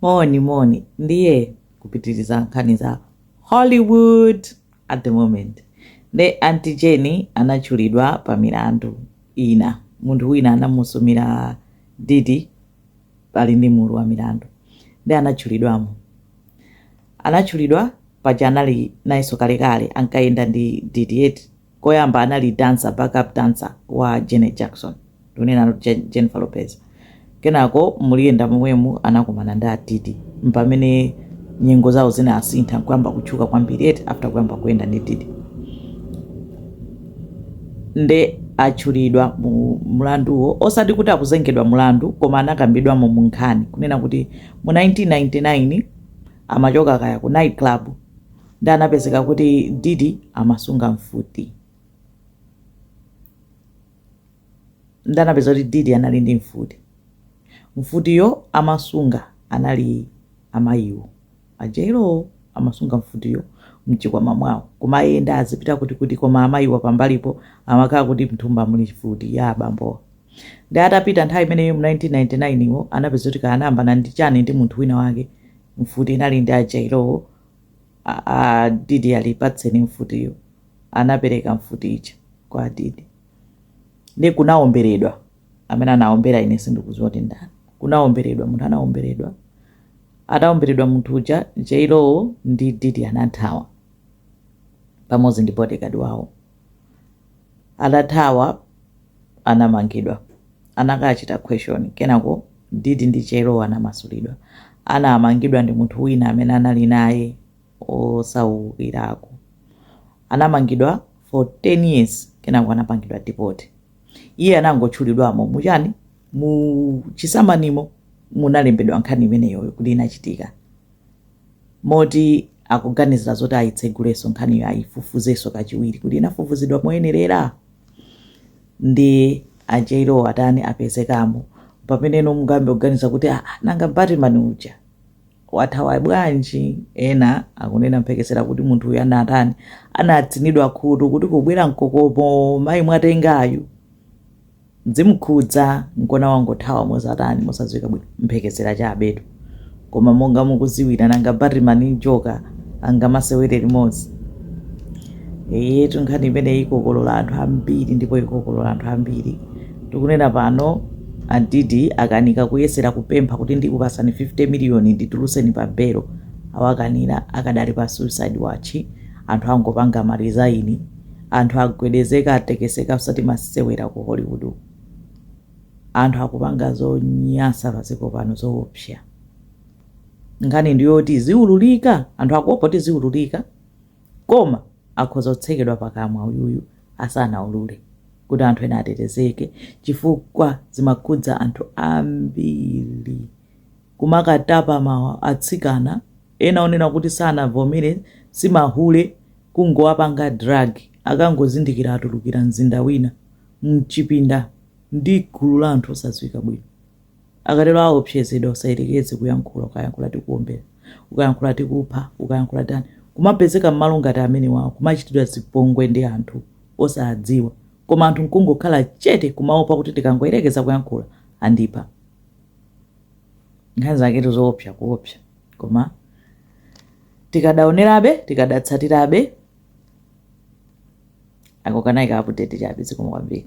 moni moni ndiye kupitiriza nkhani za hollywood at the moment nde anti Jen anatchulidwa pa milandu ina munthu wina anamusumira Diddy pali ndi mulu wa milandu nde anatchulidwamo anatchulidwa paja anali nayenso kalekale ankayenda ndi Diddy eti Koyamba anali dancer, backup dancer wa Janet Jackson, ndikunenano Jen, Jennifer Lopez. Kenako mukuyenda momwemu anakumana ndi a Diddy, mpamene nyengo zawo zinasintha nkuyamba kutchuka kwambiri eti after kuyamba kuyenda ndi Diddy. Nde atchulidwa mu mlanduwo osati kuti akuzengedwa mlandu koma anakambidwamo mu nkhani kunena kuti mu 1999 amachoka kaya ku night club ndi anapezeka kuti Diddy amasunga mfuti ndi anapeza kuti Diddy anali ndi mfuti mfutiyo amasunga anali amayiwo a JLo amasunga mfutiyo mchikwama mwawo kumayenda azipita kuti kuti koma amayiwa pambalipo amakhala kuti mthumba muli mfuti ya abambowa ndi atapita nthawi imeneyo mu 1999-wo anapeza kuti kaya anayambana ndi chani ndi munthu wina wake mfuti inali ndi a JLo-wo A- a- Diddy ali patseni mfutiyo anapereka mfuti ija kwa a Diddy ndi kunaomberedwa amene anaombera ine sindikudziwa kuti ndani kunaomberedwa munthu anaomberedwa ataomberedwa munthu uja JLo ndi Diddy anathawa pamodzi ndi bodyguard wawo Atathawa anamangidwa, anakachita question kenako Diddy ndi JLo anamasulidwa. Anamangidwa ndi munthu wina amene anali naye osaukirako. Anamangidwa for 10 years kenako anapangidwa deport. Iye anangotchulidwamo mu chani? Mu chisamanimo munalembedwa nkhani imeneyoyo kuti inachitika. moti akuganizira zoti ayitsegulenso nkhaniyo ayifufuzenso kachiwiri kuti inafufuzidwa moyenerera ndi a JLo atani apezekamo pamene ino mungambe kuganiza kuti "Ah, nanga batman uja wathawa bwanji ena akunena mphekesera kuti munthuyo anatani anatsinidwa khutu kuti kubwera mkokomo mayi mwatengayu Zimkhudza nkona wangothawa mosatani mosadziwika bwino mphekesera chabetu koma monga mukuziwira nanga Batman ndi njoka angamasewere limodzi? Eyetu nkhani imeneyi ikokolora anthu ambiri ndipo ikokolora anthu ambiri tikunena pano a Diddy akanika kuyesera kupempha kuti ndikupasani 50 million ndituluseni pa belo awakanira akadali pa suicide watchi anthu angopanga ma resign anthu agwedezeka atekeseka osati masewera ku hollywood uku. anthu akupanga zonyansa padziko pano zoopsa nkhani ndiyoti ziululika anthu akuopa kuti ziululika koma akhoza kutsekedwa pakamwa uyuyu asanaulule kuti anthu ena atetezeke chifukwa zimakhudza anthu ambiri kumakatapamo atsikana ena onena kuti sanavomere simahule kungowapanga drug akangozindikira atulukira mzinda wina mchipinda ndi gulu la anthu osadziwika bwino akatero aopsezedwa usayerekeze kuyankhula ukayankhula tikuombera ukayankhula tikupha ukayankhula tani kumapezeka mmalo ngati amenewawo kumachitidwa zipongwe ndi anthu osadziwa koma anthu nkungokhala chete kumaopa kuti ndikangoyerekeza kuyankhula andipha nkhani zake tu zoopsa kuopsa koma tikadaonerabe tikadatsatirabe aka kanali ka update chabe zikomo kwambiri